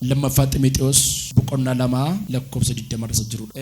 Lammaffaa Ximixewos boqonnaa 2 lakkoofsa 20 irra isa jirudha.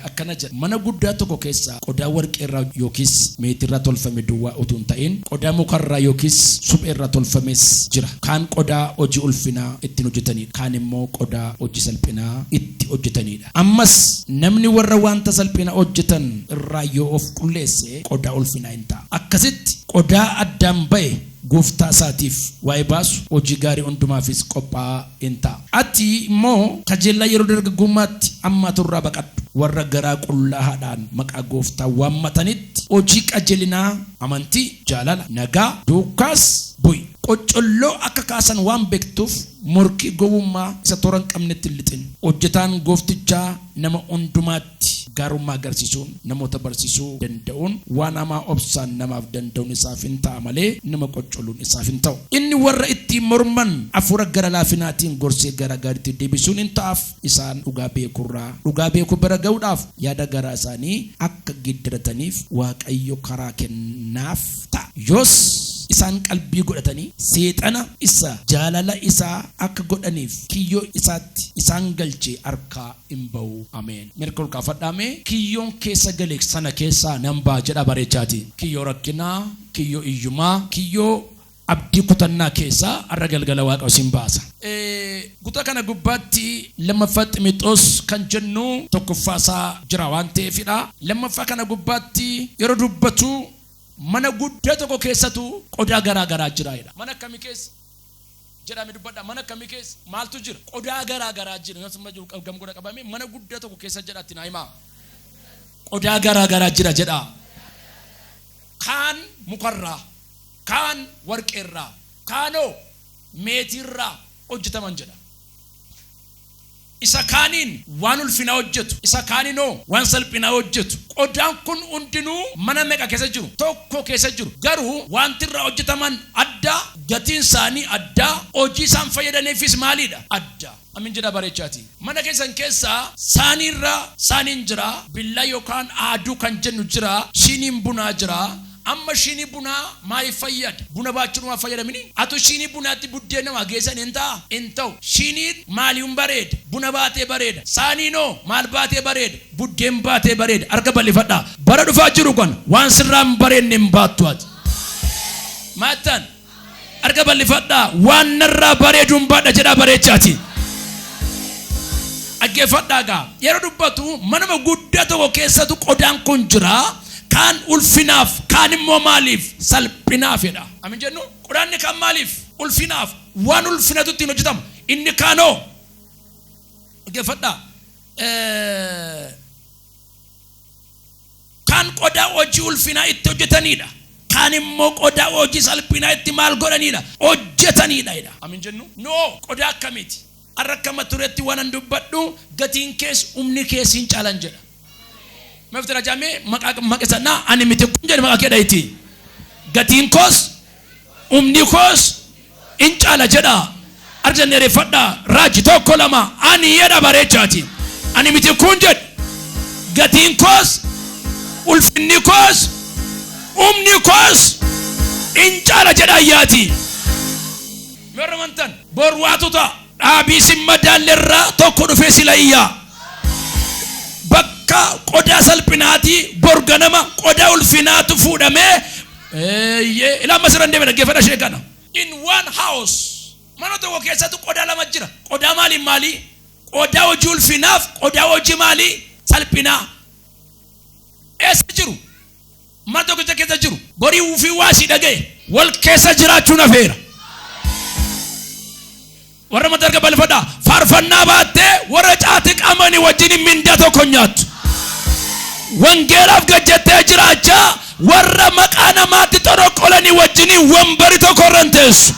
Akkana jedha, mana guddaa tokko keessaa qodaa warqee irraa yookiis meetii irraa tolfame duwwaa utuu hin ta'in, qodaa muka irraa yookiis suphee irraa tolfames jira. Kaan qodaa hojii ulfinaa ittiin hojjetanidha, kaan immoo qodaa hojii salphinaa itti hojjetanidha. Ammas namni warra wanta salphinaa hojjetan irraa yoo of qulleesse qodaa ulfinaa in ta'a. Akkasitti qodaa addaan ba'e Gooftaa isaatiif waa'ee baasu, hojii gaarii hundumaafis qophaa'aa in ta'a. Ati immoo kajeellaa yeroo dargaggummaatti hammaatu irraa baqadhu. Warra garaa qullaahaadhaan maqaa Gooftaa waammatanitti, hojii qajeelinaa, amantii, jaalala, nagaa, duukaas bu'i. Qoccolloo akka kaasan waan beektuuf, morkii gowwummaa isa toora hin qabnetti hin lixin. Hojjetaan gooftichaa nama hundumaatti. irratti gaarummaa agarsiisuun namoota barsiisuu danda'uun waan hamaa obsaan namaaf danda'uun isaaf in ta'a malee nama qoccoluun isaaf hin ta'u. Inni warra ittiin morman hafuura gara laafinaatiin gorsee gara gaariitti deebisuun in ta'aaf, isaan dhugaa beekuu irraa dhugaa beekuu bira ga'uudhaaf yaada garaa isaanii akka geeddarataniif Waaqayyo karaa kennaaf ta'a. Yoos isaan qalbii godhatanii seexana isa jaalala isaa akka godhaniif kiyyoo isaatti isaan galche harkaa in ba'u ameen mirka ol kaafadhaa mee kiyyoon keessa gale sana keessaa nan ba'a jedhaa bareechaati kiyyoo rakkinaa kiyyoo iyyumaa kiyyoo abdii kutannaa keessaa har'a galgala waaqa isin baasa. Kutaa kana gubbaatti lammaffaa ximixoos kan jennu tokkoffaa isaa jira waan ta'eefidha. Lammaffaa kana gubbaatti yeroo dubbatu mana guddaa tokko keessatu qodaa garaa garaa jira jedha. Mana akkamii keessa? jedhaa mee dubbadhaa mana akkamii keessa maaltu jira qodaa garaa garaa jira yoo sirna jiru gam godha qabamee mana guddaa tokko keessa jedha itti naa himaa qodaa garaa garaa jira jedhaa kaan mukarraa kaan warqeerraa kaanoo meetiirraa hojjetaman jedha Isa kaaniin waan ulfinaa hojjetu, isa kaaninoo waan salphinaa hojjetu. Qodaan kun hundinuu mana meqa keessa jiru? Tokko keessa jiru. Garuu waanti irraa hojjetaman adda, gatiin isaanii adda, hojii isaan fayyadaniifis maaliidha? Adda. Amiin jedhaa bareechaatii. Mana keessan keessa saanii irra saaniin jira, billaa yookaan aaduu kan jennu jira, shiiniin bunaa jira, Amma shiinii bunaa maayif fayyada? Buna baachuu dhumaa fayyadamini? Atu shiinii bunaatti buddeenna waa geessan hin ta'a? Hin ta'u. Shiiniin maaliun bareeda? Buna baatee bareeda. Saaniin hoo maal baatee bareeda? Buddeen baatee bareeda. Harka bal'ifadhaa. Bara dhufaa jiru kana waan sirraa hin bareedne hin baattu ati. Maattan. Arga bal'ifadhaa waan narraa bareeduun baadha jedhaa bareechaati. Dhaggeeffadhaa gaa yeroo dubbatu manuma guddaa tokko keessatu qodaan kun jira kaan ulfinaaf kaan immoo maaliif salphinaafidha. Amin jennu qodaanni kaan maaliif ulfinaaf waan ulfinatu ittiin hojjetamu inni kaanoo dhaggeeffadhaa. Kaan qodaa hojii ulfinaa itti hojjetanii dha. Kaan immoo qodaa hojii salphinaa itti maal godhanii dha? Hojjetanii dha jedha. Am hin jennu? No! Qodaa akkamiiti? Har'a akka mata dureetti waanan dubbadhu, gatiin kees humni kees hin caalan jedha. Mee ofitti rajaa mee maqaa maqisa naa ani miti kun jedhi maqaa kee dhahitii. Gatiin koos. Humni koos in caala jedhaa. Arja dheereffadhaa. Raaji tokko lama ani jedha bareechaati. Ani miti kun jedhe. Gatiin koos ulfinni koos humni koos in caala jedha ayyaati. Yoo ramantan bor waatu ta'a. Dhaabii sin madaalle irraa tokko dhufee sila iyyaa. Bakka qodaa salphinaatii bor ganama qodaa ulfinaatu fuudhamee Eeyyee, ila ammas irra hin deebine, dhaggeeffadha ishee kana. In one house, mana tokko keessatti qodaa lama jira. Qodaa maaliin maalii? Qodaa hojii ulfinaaf qodaa hojii maalii? Salphinaa. Eessa jiru? Mana tokkicha keessa jiru. Borii ufii waa si dhaga'e. Wal keessa jiraachuun hafeera. Warra mata erga balfadha. Faarfannaa baattee warra caati qamani wajjin mindaa tokko nyaattu. Wangeelaaf gajjattee jiraachaa warra maqaa namaatti xoroqqolanii wajjin wanbari tokko irra hin teessu.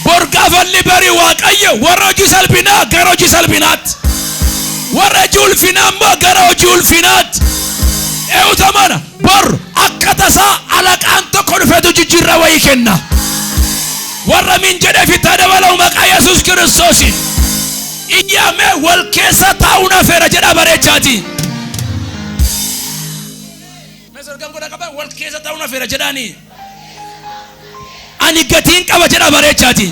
Bor gaafalli bari waaqayyo warra hojii salphinaa gara hojii salphinaatti. Warra hojii ulfinaa immoo gara hojii ulfinaatti. Eewuta mana Bor akka tasaa alaqaan tokko dhufetu jijjiirra wayii kenna. Warra min jedhe fittaa dabalau maqaa Yesuus Kiristoosiin. Iyyaamee wal keessa taa'uun hafeera jedha bareechaati. Mesorgan godha qaba wal keessa taa'uun hafeera jedhaani. Ani gatiin qaba jedha bareechaati.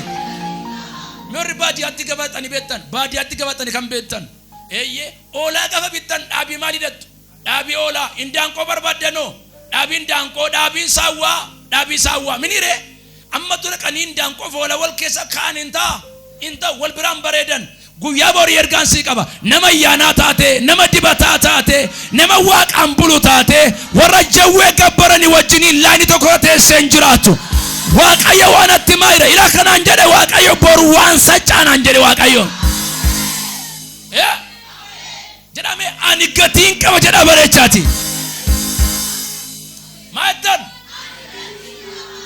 Meerri baadiyyaatti gabaatani beektan baadiyyaatti gabaatani kan beektan. Eeyyee oolaa gafa bittan dhaabii maal hidhattu? Dhaabi oola indaanqoo barbaaddanoo dhaabi indaanqoo dhaabi insaawwaa dhaabi isaawwaa miniree ammatu dhaqanii indaanqoo foola wal keessa kaa'an hin ta'a hin ta'u wal biraan bareedan guyyaa borii ergaan sii qaba nama ayyaanaa taate nama dibataa taate nama waaqaan bulu taate warra jawwee gabbarani wajjiniin laayini tokko teessee hin jiraatu waaqayyo waan atti maayira ila kanaan jedhe waaqayyo boru waan sachaanaan jedhe waaqayyo. Yeah. jedhame ani gatiin qaba jedha bareechaati maattan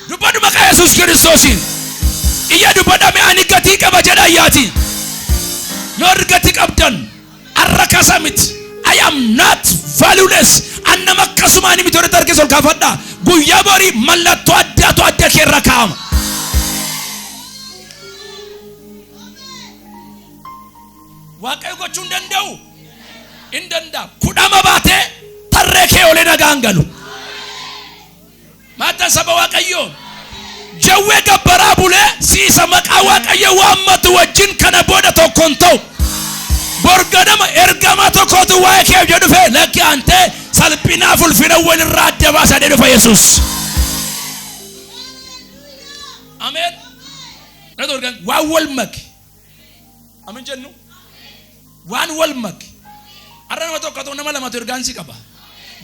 dubbadhu maqaa yesus kiristoosiin iyya dubbadhame ani gatii qaba jedha iyyaati yoo argati qabdan arra kasa miti I am not valueless an nama akkasuma ani miti warri tarkeessa ol kaafadha guyyaa borii mallattoo addaatu adda kee irra kaa'ama Waaqayyo gochuu hin danda'u. Hin danda'a. Kudhama baatee tarree kee olee nagaan galu. Maataan saba Waaqayyoo. Jawwee gabbaraa bulee siisa maqaa Waaqayyo waammatu wajjin kana booda tokko hin ta'u. Borganama ergamaa tokkotu waa'ee kee hojii dhufe lakki antee salphinaaf ulfina walirraa adda baasaa jedhe dhufa Yesuus. Ameen. Dhaga'u waan wal make. Amin jennu waan wal make har'a nama tokko ta'u nama lamatu ergaan si qaba.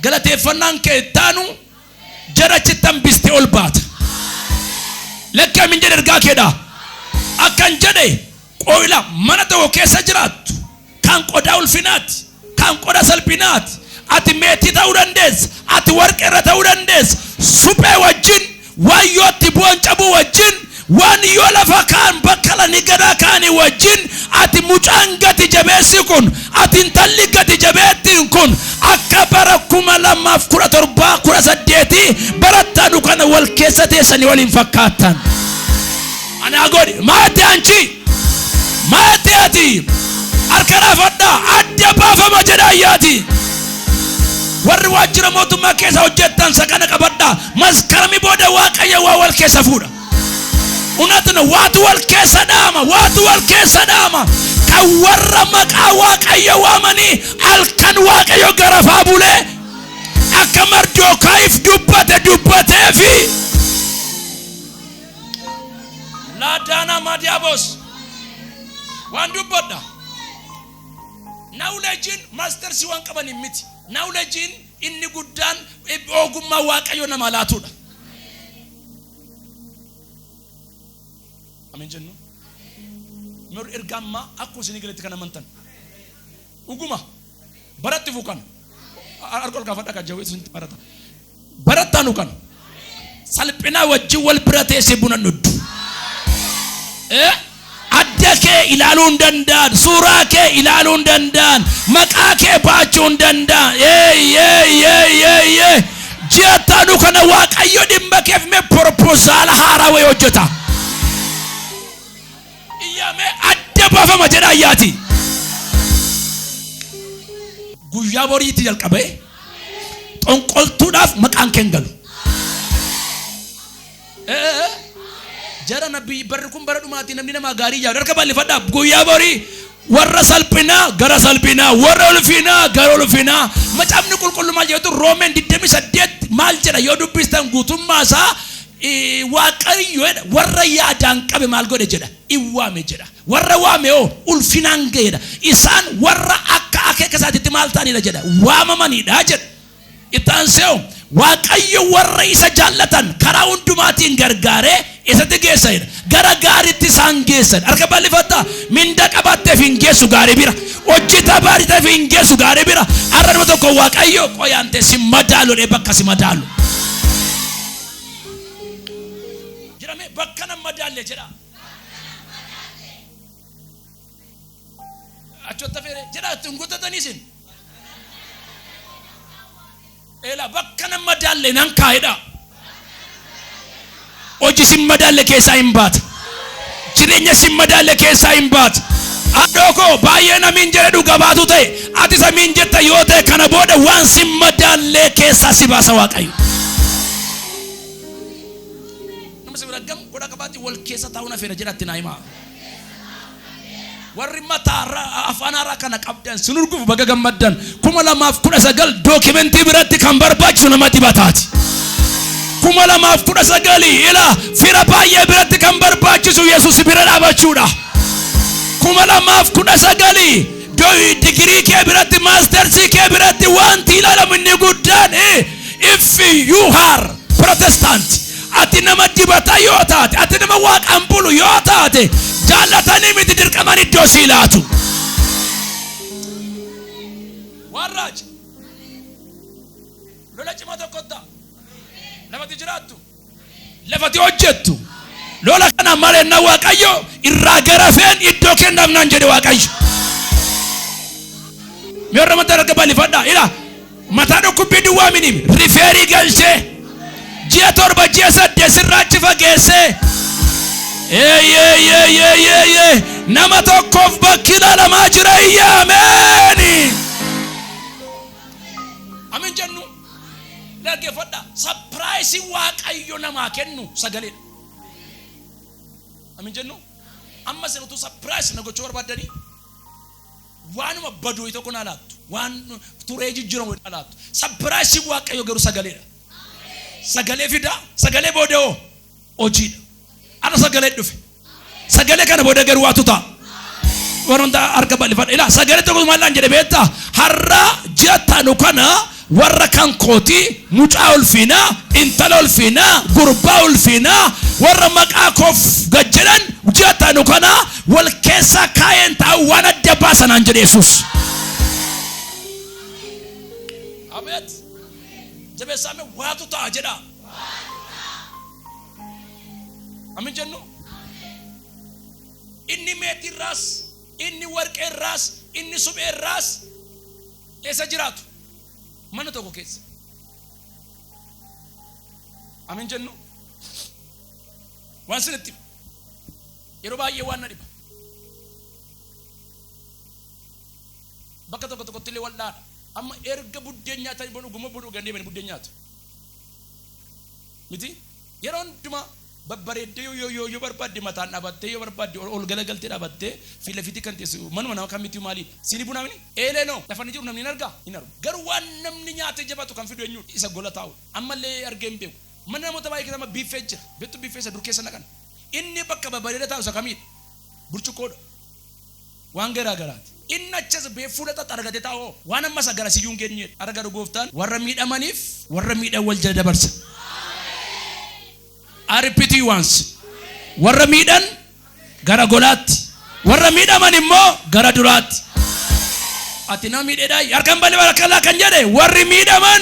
Galateeffannaan kee ittaanu jara achitti hambiste ol baata. Lakki amin jedhe ergaa keedha. Akkan jedhe qoyla mana tokko keessa jiraattu kan qodaa ulfinaati, kan qoda salphinaati. Ati meetii ta'uu dandeessa, ati warqee irra ta'uu dandeessa, suphee wajjin, waan yoo itti bu'an cabuu wajjin, waan yoo lafa kaan bakka lani gadaa kaanii wajjin, ati mucaan gati jabeessi kun, ati intalli gati jabeettiin kun, akka bara kuma lamaaf kudha torbaa kudha saddeetii barattaanu kana wal keessa teessanii waliin fakkaattan. Anaa godhi maatti anchi maatti ati harka laafadhaa adda baafama jedha ayyaati. Warri waajjira mootummaa keessa hojjettan sakana qabadhaa maskarami booda waaqayyo waa wal keessa fuudha. Unatni waatu wal keessa dhaama waatu wal keessa dhaama kan warra maqaa waaqayyo waamanii halkan waaqayyo garafaa bulee akka mardookaayif dubbate dubbateefi. laadaanaa maadiyaabos waan dubbadha naawuleejiin maastarsii waan qabaniin miti naawuleejiin inni guddaan ogummaa waaqayyo nama laatudha amin jennu mir erga ammaa akkuma isinii galetti kan amantan dhuguma baratti fu kana harka ol kaafadha kan jawwee isinti barata barattaanu kana salphinaa wajjin wal bira teessee buna nuddu Eh? adda kee ilaaluu hin danda'an suuraa kee ilaaluu hin danda'an maqaa kee baachuu hin danda'an Yee, yee, yee, yee, yee. ji'a taanu kana waaqayyo dhimma keef mee proposal haaraa wayii hojjeta Iyyaa mee adda baafama jedhaa iyyaati. Guyyaa boriitti jalqabee xonqoltuudhaaf maqaan keen galu. Jara nabbii barri kun bara dhumaatti namni namaa gaarii yaadu harka bal'ifadhaa guyyaa borii warra salphinaa gara salphinaa warra ulfinaa gara ulfinaa macaafni qulqullummaa jedhu roomeen 28 maal jedha yoo dubbistan guutummaa isaa I Waaqayyo jedha, warra yaadaan qabe maal godhe jedha? In waame jedha. Warra waame hoo ulfinaan ga'e jedha. Isaan warra akka akeeka isaatitti maal ta'anidha jedha? Waamamanidha jedha. Itti aansee hoo Waaqayyo warra isa jaallatan karaa hundumaatiin gargaaree isatti geessa jedha. Gara gaariitti isaan geessa. Harka bal'ifadhaa. Minda qabaatteef hin geessu gaarii bira. Hojii tabaariteef hin geessu gaarii bira. Har'a nama tokko Waaqayyo qoyaantee si madaalu dhee bakka si madaalu. jedhame bakka nan madaalle jedha achotta feere jedha itti hin gutatanii isin eela bakka nan madaalle nan kaa'edha hojii isin madaalle keessaa hin baate Jireenya sin madaalle keessaa hin baatu. Haadhoo koo baay'ee namiin jedhe dhuga baatu ta'e ati samiin jetta yoo ta'e kana booda waan sin madaallee keessaa si baasa waaqayyo. Nama si bira gamu godha qabaatti wal keessa taa'uun afeera jedhatti naa himaa. Warri mataa ra- afaan haaraa kana qabdan sin urgufu baga gammaddan. 2019 dookimentii biratti kan barbaachisu nama dibataati. 2019 ila fira baay'ee biratti kan barbaachisu Yesuus bira dhaabachuudha. 2019 do- digirii kee biratti maastersii kee biratti wanti ilaalamu inni guddaan eh, if you are protestant Ati nama dibata yoo taate, ati nama waaqaan bulu yoo taate, jaallatanii miti dirqaman iddoo sii laatu. Warraaji. Lola cimaa tokko ta'a. Lafati jiraattu. Lafati hojjettu. Lola kana malenna Waaqayyo irraa garafeen iddoo kennaaf naan jedhe Waaqayyo. Mee warra mataa irra bal'ifadhaa. Ilaa. Mataa dhukkubbii duwwaa miniim rifeerii galchee ji'a torba ji'a saddeet sirraa achi fageessee eeyeeyeeyeeyeeyee nama tokkoof bakki ilaalamaa jira iyya ameeni. Amin jennu dhaggeeffadha sapiraayisii waaqayyo namaa kennu sagaleedha. Amin jennu amma isin utuu sapiraayis na gochuu barbaaddanii Waanuma badu wayi tokko naa laattu. Waan turee jijjiramu wayi naa laattu. Sapiraayisiin Waaqayyoo garuu sagaleedha. Sagalee fida, sagalee booda hoo hojiidha. Har'a sagalee dhufe. Sagalee kana booda garuu waatu ta'a. Waan hundaa harka bal'ifadha. Ilaa sagalee tokko maal naan jedhe beektaa? Har'a ji'a taanu kana Warra kan kootii, mucaa ulfiinaa, intala ulfiinaa, gurbaa ulfiinaa, warra maqaa koof gad jedhan ji'a taanu kana wal keessaa kaa'ee hin taa'u, waan adda baasa naan jedhe Yesuus. Abeet! Jabeessaame waatu ta'a jedha. Amin jennu? Inni meetiirraas, inni warqeerraas, inni supheerraas, Eessa jiraatu? Mana tokko keessa. Amin jennu. Waan sinitti hima. yeroo baay'ee waan na dhiba. Bakka tokko tokkotti illee wal'aana. Amma erga buddeen nyaatanii booda dhuguma booda dhuganii deemanii buddeen nyaatu. Miti? Yeroo hundumaa babbareeddee yoo yoo yoo yoo barbaadde mataan dhaabattee yoo barbaadde ol ol galagaltee dhaabattee fi lafiitti kan teessu manuma nama kan mitiu maalii dha? Siinii bunaa mini? Eelee noo lafa inni jiru namni hin argaa? Hin argu. Garuu waan namni nyaatee jabaatu kan fidu eenyuu dha? Isa gola taa'u dha. Amma illee argee hin beeku. Mana namoota baay'ee keessa amma biiffee jira. Beektuu biiffee isa dur keessa naqan? Inni bakka babareeda taa'u isa kamii dha? Burcuqqoo dha. waan garaa garaati. Inni achas bee fuula xaxxe argate ta'a hoo? Waan amma isa garasiyyuu hin geenyee dha. Har'a garuu Gooftaan warra miidhamaniif warra miidhan wal jala dabarsa. I repeat you once. Warra miidhan gara golaatti, warra miidhaman immoo gara duraatti. Ati nama miidheedhaa harka hin bal'ifne harka laa kan jedhe warri miidhaman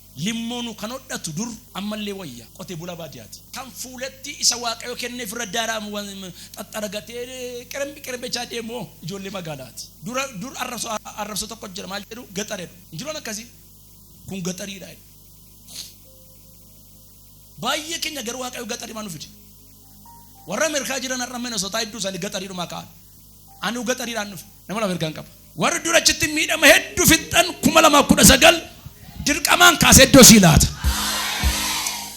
Limmoonu kan hodhatu dur ammallee wayya qote bula baadiyaati. Kan fuulattii isa waaqayyo kenneef irra daaraamu xaxxaragatee qirembi qirebechaa deemu hoo ijoollee magaalaati. Dura dur arrabso arrabso tokko jira maal jedhu gaxar jedhu. Hin jiru waan akkasii? Kun gaxariidha jedhu. Baay'ee keenya garuu waaqayyo gaxarimaa nu fide. Warra Ameerikaa jiran har'a Minnesota hedduu isaanii gaxariidhumaa ka'an. Anuu gaxariidhaan dhufe. Nama lama ergaan qaba. Warri dura achitti miidhama hedduu fixxan kuma lamaaf kudha sagal dirqamaan kaasee iddoo sii laata.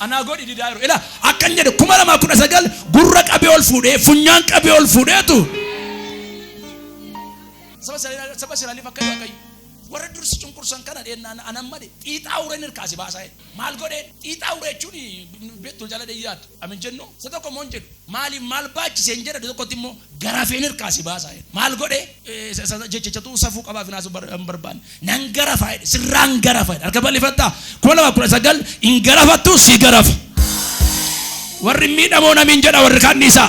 Anaa godhi didaa yeroo ila akkan jedhe kuma lamaaf kudha sagal gurra qabee ol fuudhee funyaan qabee ol fuudheetu saba Israa'el- saba Israa'eliif akka waaqayyo warra dursi cunqursan kana dheennaan anan male xiixaa ureen irkaasi baasaa jedhe. Maal godhee xiixaa ure jechuun beektu jala dhiyyaatu. Amin jennu isa tokko immoo hin jedhu. Maaliif maal baachise hin jedha isa tokkotti immoo garafeen hirkaa si baasaa jedha. Maal godhee jechachatu safuu qabaa finaasu hin barbaanne. Nan garafaa jedhe sirraan garafa jedha. Harka bal'ifattaa kuma lama kudha sagal hin garafattu si garafa. Warri miidhamoo namiin jedha warri kaan dhiisaa.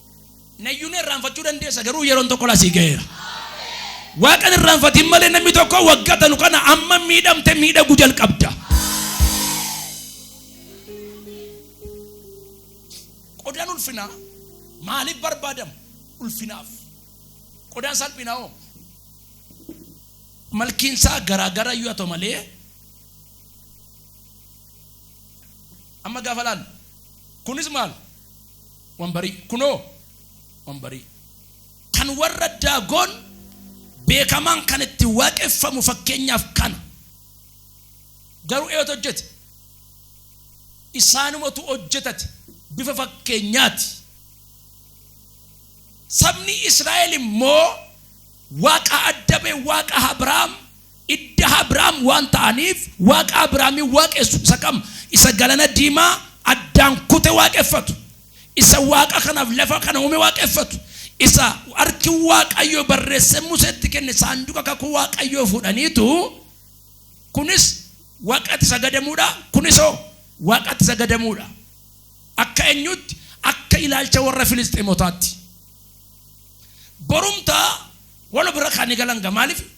Nayyuun irraanfachuu dandeessa garuu yeroon tokko lasii ga'eera. Waaqan irraanfatiin malee namni tokko waggaa tanu kana amma miidhamte miidhaguu jalqabda. Qodaan ulfinaa maaliif barbaadamu? Ulfinaaf. Qodaan salphinaa hoo? Malkiin isaa garaagara iyyuu haa ta'u malee amma gaafa laalu kunis maal Wambarii kunoo wambarii kan warra daagoon beekamaan kan itti waaqeffamu fakkeenyaaf kana garuu eeyoota hojjete isaanumatu hojjetate bifa fakkeenyaati sabni Israa'el immoo waaqa adda ba'e waaqa Abrahaam Idda Abraam waan ta'aniif Waaqa Abraamin waaqessu isa kam? Isa Galana Diimaa addaan kute waaqeffatu. Isa Waaqa kanaaf lafa kana uume waaqeffatu. Isa harki Waaqayyoo barreessee Museetti kenne saanduqa kakuu Waaqayyoo fuudhaniitu kunis Waaqatti sagadamuudha, kunisoo Waaqatti sagadamuudha. Akka eenyuutti? Akka ilaalcha warra Filisxeemotaatti. Borumtaa wal bira kan galan maaliif?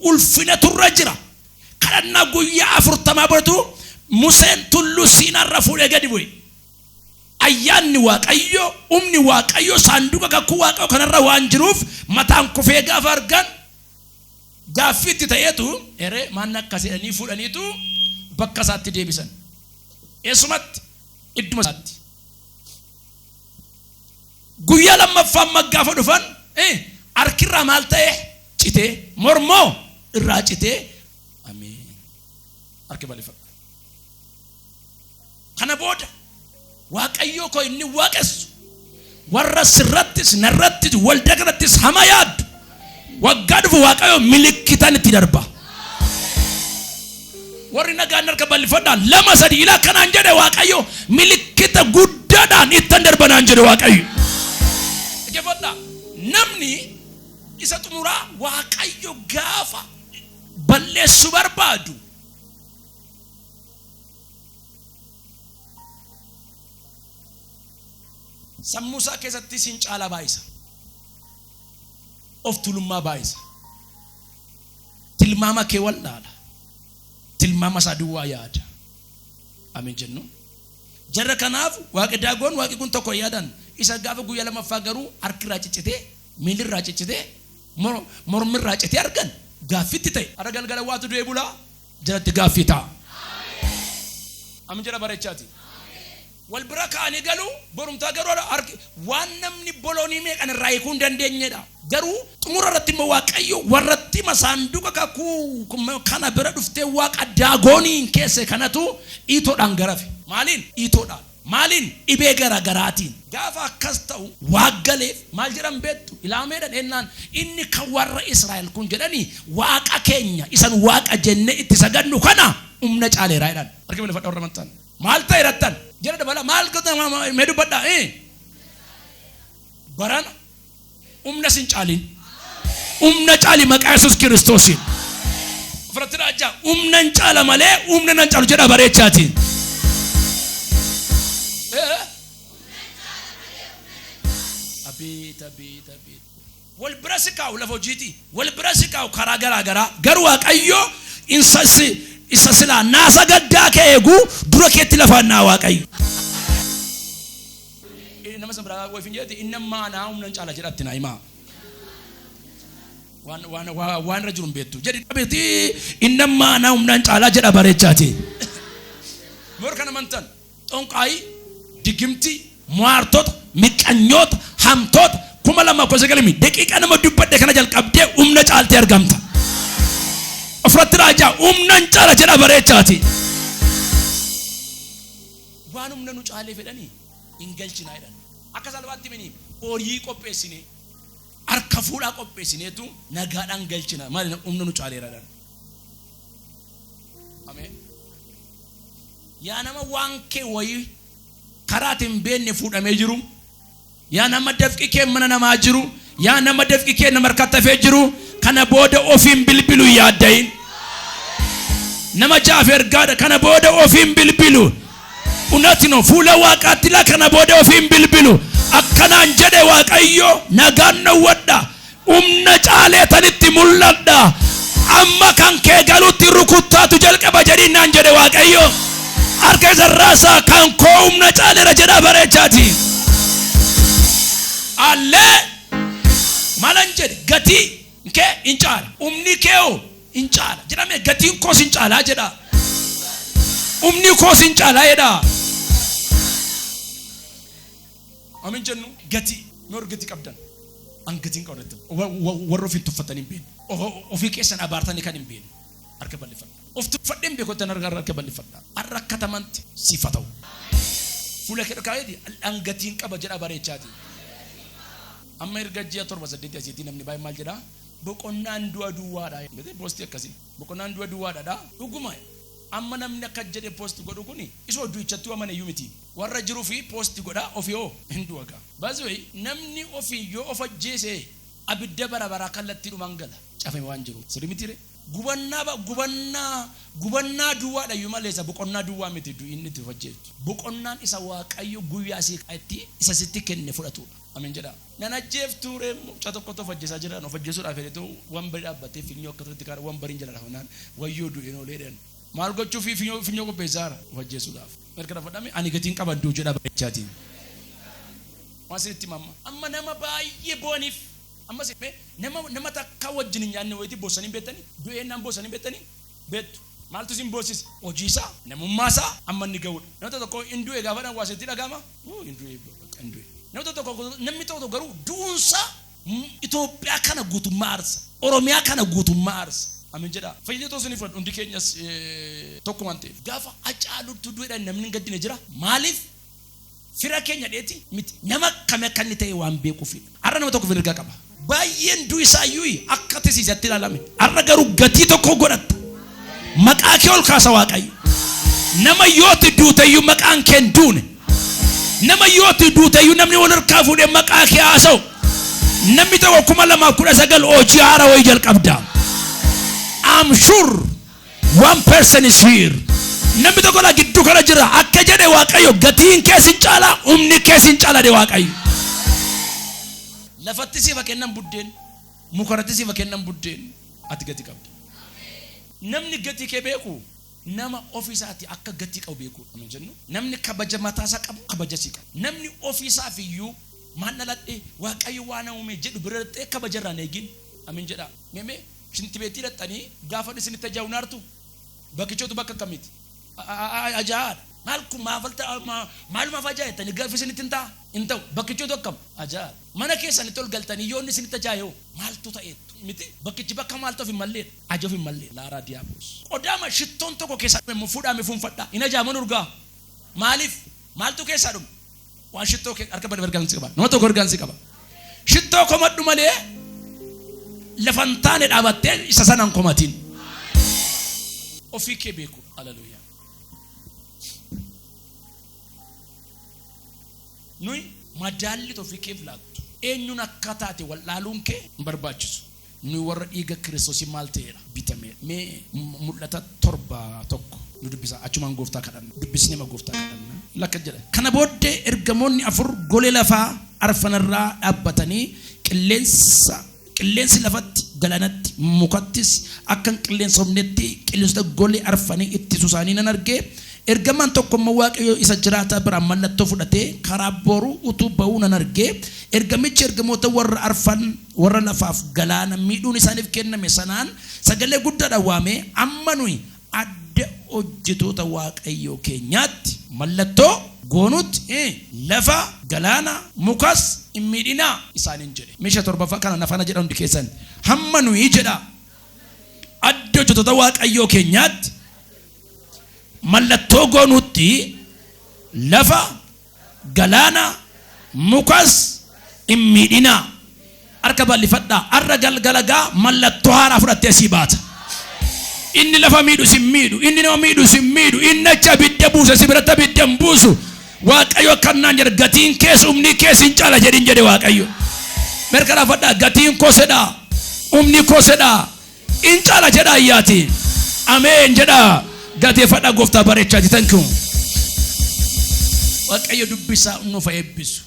ulfinatu irra jira. Kadhannaa guyyaa afurtamaa boodatu Museen tulluu Siinaarra fuudhee gadi bu'e. Ayyaanni Waaqayyoo, humni Waaqayyoo saanduqa kakuu Waaqayyoo kanarra waan jiruuf mataan kufee gaafa argan gaaffii itti ta'eetu eree maanna akkas jedhanii fuudhaniitu bakka isaatti deebisan. Eessumatti idduma isaatti. Guyyaa lammaffaa amma gaafa dhufan harki irraa maal ta'e citee mormoo irraa citee ameen harki balifadha. Kana booda waaqayyoo koo inni waaqessu warra sirrattis narrattis walda kanattis hama yaaddu Waggaa dhufu Waaqayyo milikkitan itti darba. Warri nagaan harka bal'ifadhaa lama sadi ila akkanaan jedhe Waaqayyo milikkita guddaadhaan ittan darba naan jedhe Waaqayyo. Dhaggeeffadhaa namni isa xumuraa Waaqayyo gaafa balleessu barbaadu sammuusaa keessatti siin caalaa baay'isa. of tuulummaa baay'isa. Tilmaama kee wal'aala. Tilmaama isaa duwwaa yaada. Ameen jennu. Jarra kanaaf waaqi daagoon waaqi kun tokko yaadan isa gaafa guyyaa lamaffaa garuu harki irraa ciccitee miilli irraa ciccitee mor- mormi irraa citee argan gaaffitti ta'e. Har'a galgala waatu du'ee bulaa jalatti gaaffii ta'a. Amin jedha barechaati. wal bira ka'anii galu, borumtaa garuu harki waan namni boloonii meeqan irraa hiikuu hin dandeenyedha. Garuu xumura irratti immoo Waaqayyo warratti masaanduqa kakuu kana bira dhuftee waaqa Daagooniin keesse kanatu dhiitoodhaan garafe. Maaliin? Dhiitoodhaan. Maaliin? Dhibee gara garaatiin. Gaafa akkas ta'u waaq galeef maal jedhan beektu? Ilaameedha dhennaan inni kan warra Israa'el kun jedhani waaqa keenya isan waaqa jennee itti sagadnu kana humna caaleera jedhan. Harka bal'ifadhaa warra amantan. Maal ta'e rattan? Jedha dabala maal goota mee dubbadha. Barana humna sin caaliin. Humna caali maqaa Yesuus Kiristoosiin. Ofirratti raajjaa humna hin caala malee humna nan caalu jedha bareechaatiin. Abeet abeet abeet. wal bira si kaa'u lafa hojiiti wal bira si kaa'u karaa garaa garaa garuu waaqayyo insa si isa silaa naasa gaddaa kee eegu dura keetti lafaan naa waaqayyo. Eh, nama san biraa wayfin jedhati inni amma anaa humnan caala jedhatti naa himaa waan waan waa- waan irra jiru hin beektu jedhi dhabeti inni amma anaa humnan caalaa jedha bareechaati morka namantan xonqaayii, digimtii, mo'aartota, miqqanyoota, hamtoota, 2019 mi daqiiqa nama dubbadhe kana jalqabdee humna caaltee argamta. Ofirratti raajaa humnan caala jedha bareechaati. Waan humna nu caalee fedhanii hin galchinaa jedhan. Akka salphaatti mini horii qopheessinee harka fuudhaa qopheessineetu nagaadhaan galchina. Maali humna nu caaleera jedhan. Ameen. Yaa nama waan kee wayii karaa ati hin beekne fuudhamee jiru, yaa nama dafqi kee mana namaa jiru, yaa nama dafqi kee nama harkatti hafee jiru, kana booda ofiin bilbilu hin yaadda'in. Nama ja'aaf ergaadha, kana booda ofiin bilbilu. Unati no fuula waaqaatti laa kana booda ofiin bilbilu. Akkanaan jedhe Waaqayyo nagaan dhowwadha. Humna caaleetanitti mul'adha. Amma kan kee galutti rukuttaatu jalqaba jedhiin naan jedhe Waaqayyo. Harka isa raasaa kan koo humna caaleera jedhaa bareechaati. Allee malan jedhe gatii kee in caala. Humni kee hoo in caala jedhame gatiin koos in caalaa jedhaa. Humni koos in caalaa jedhaa. Amin jennu gatii mee warri gatii qabdan an gatiin qabu natti wa- wa- warri ofiin tuffatan hin beekne O- ofii keessan abaartanii kan hin beekne harka bal'ifadha of tuffadheen beekottan harka harka bal'ifadha har'a rakkatamanti siif haa ta'u fuula kee dhokaayeeti an gatiin qaba jedha bareechaati amma erga ji'a torba saddeeti asiitii namni baay'ee maal jedha boqonnaan du'a duwwaadha jedhee poostii akkasii boqonnaan du'a duwwaadha dhuguma amma namni akka jedhe poosti godhu kuni isa odduuchattuu amana iyyuu miti Warra jirufi post godha ofi hoo hin du'a gaa by the way namni ofi yoo of ajjeese abidda bara baraa kallattiidhumaan gala cafame waan jiruuf sirri mitiire gubannaa ba gubannaa gubannaa duwwaadhayyuu malee isa boqonnaa duwwaa miti du'i inni itti of ajjeeftu boqonnaan isa waaqayyo guyyaa sii kaa'etti isa sitti kenne fudhatuudha ameen jedhaa nan ajjeeftuuree mucaa tokkotu of ajjeesaa jira of ajjeesuudhaaf jedhetu wanbari dhaabbatee finyoo akka turetti kaara wanbariin jala dhafnaan wayyoo du'een oolee jedhan maal gochuufi finyoo finyoo qopheessaara of ajjeesuudhaaf Gargara fudhame ani gatiin qabaddu jedha bareechaatiin. Waan isinitti hima amma. Amma nama baay'ee boo'aniif amma isin mee nama nama takka wajjin hin nyaanne wayitii boossanii beektanii du'ee naan boossanii beektanii beektu. Maaltu isin boossise? Hojii isaa, namummaa isaa amma inni ga'udha. Nama tokko tokko hin du'e gaafa dhaan waa isinitti dhaga'ama. Uu hin du'e bakka hin du'e. Nama tokko tokko namni tokko tokko garuu du'uun isaa Itoophiyaa kana guutummaa aarsa. Oromiyaa kana guutummaa aarsa. Amen jedhaa. Fayyinee too isiniif fudhadhu. Hundi keenyas tokko waan ta'eef. Gaafa Hacaaluutu du'edha namni hin gaddine jira? Maaliif? Fira keenya dheeti miti. Nama akkami akka inni ta'e waan beekuufidha. Har'a nama tokko mirga qaba. Baay'een du'i isaa iyyuu akka tisiisatti ilaalame. Har'a garuu gatii tokko godhatta. Maqaa kee ol kaasa Waaqayyo. Nama yooti duute iyyuu maqaan kee hin duune. Nama yoo itti duute iyyuu namni wal harkaa fuudhee maqaa kee haasa'u namni tokko kuma lamaaf kudha sagal hojii haara wayii jalqabda. I'm sure one person is here. Namni tokko na gidduu kana jira akka jedhe Waaqayyo gatiin kee sin caala humni kee sin caala de Waaqayyo. Lafatti siif kennan buddeen mukarratti siif kennan buddeen ati gati qabda. Namni gatii kee beeku Nama ofi isaati akka gatii qabu beekuu dha nu jennu, namni kabaja mataa isaa qabu kabaja sii qaba. Namni ofi isaaf iyyuu maal dhaladhe, Waaqayyo waa na uume jedhu bira dhaqxee kabaja irraa hin eegin. Ameen jedhaa. Mee mee shinti beetii dhaqxanii gaafa inni isinitti ajaa'u hin aartu? Bakkichootu bakka akkamiiti? Ajaa'aa dha. Maal kun maaf alta maalumaaf ajaa'a jettanii gaaffii isinitti hin ta'a? Hin ta'u. Bakkichootu akkam? Ajaa'aa dha. Mana keessanitti ol galtanii yoo inni isinitti ajaa'e hoo? Maaltu ta'eettu? Miti. Bakkichi bakka maaltu of hin mallee dha. Ajof hin mallee laaraa diyaablos. Qodaama shittoon tokko keessaa dhume immoo fuudhaa mee fuunfadhaa. Hin ajaa'aman urgaa'a. Maaliif? Maaltu keessaa dhume? Waan shittoo kee harka badaf ergaan si qaba. Nama tokko ergaan si qaba. Shittoo komadhu malee lafa hin taane dhaabattee isa sana hin komatin. Ofii kee beeku. Haleluuyaa. Nuyi madaalli ofii keef laattu eenyuun akka taate wal'aaluun kee hin barbaachisu. Nuyi warra dhiiga Kiristoosiin maal ta'eedha? Bitameedha. Mee Mul'ata 7 1 nu dubbisaa. Achumaan gooftaa kadhanna. Dubbisneema gooftaa kadhanna. Lakka jedha. Kana booddee ergamoonni afur golee lafaa arfan irraa dhaabbatanii qilleensa qilleensi lafatti, galaanatti, mukattis akka hin qilleensofnetti qilleensota golee arfanii ittisu isaanii nan arge. Ergamaan tokko immoo Waaqayyo isa jiraataa biraa mallattoo fudhatee karaa booruu utuu ba'uu nan arge. Ergamichi ergamoota warra arfan Warra lafaaf galaana miidhuun isaaniif kenname sanaan sagalee guddaadhaan waamee, Amma nuyi adda hojjetoota Waaqayyoo keenyaatti mallattoo goonutti, lafa, galaana, mukas hin miidhinaa! isaaniin jedhe. Mee 7ffaa kanaan na faana jedhaa hundi keessan. Hamma nuyi jedhaa adda hojjetoota Waaqayyoo keenyaatti mallattoo goonutti, lafa, galaana mukas hin miidhinaa harka bal'ifadhaa har'a galgala gaa mallattoo haaraa fudhattee sii baata inni lafa miidhu sin miidhu inni nama miidhu sin miidhu inni achi abidda buuse si biratti abidda hin buusu waaqayyo akkannaan jedha gatiin kees humni kees hin caala jedhin jedhe waaqayyo mirkanaafadhaa gatiin kosedhaa humni kosedhaa In chala jedha ayyati. Ameen jedha gateefadha goftaa barechaati thank you. Waaqayyo dubbisaa nuuf eebbisu.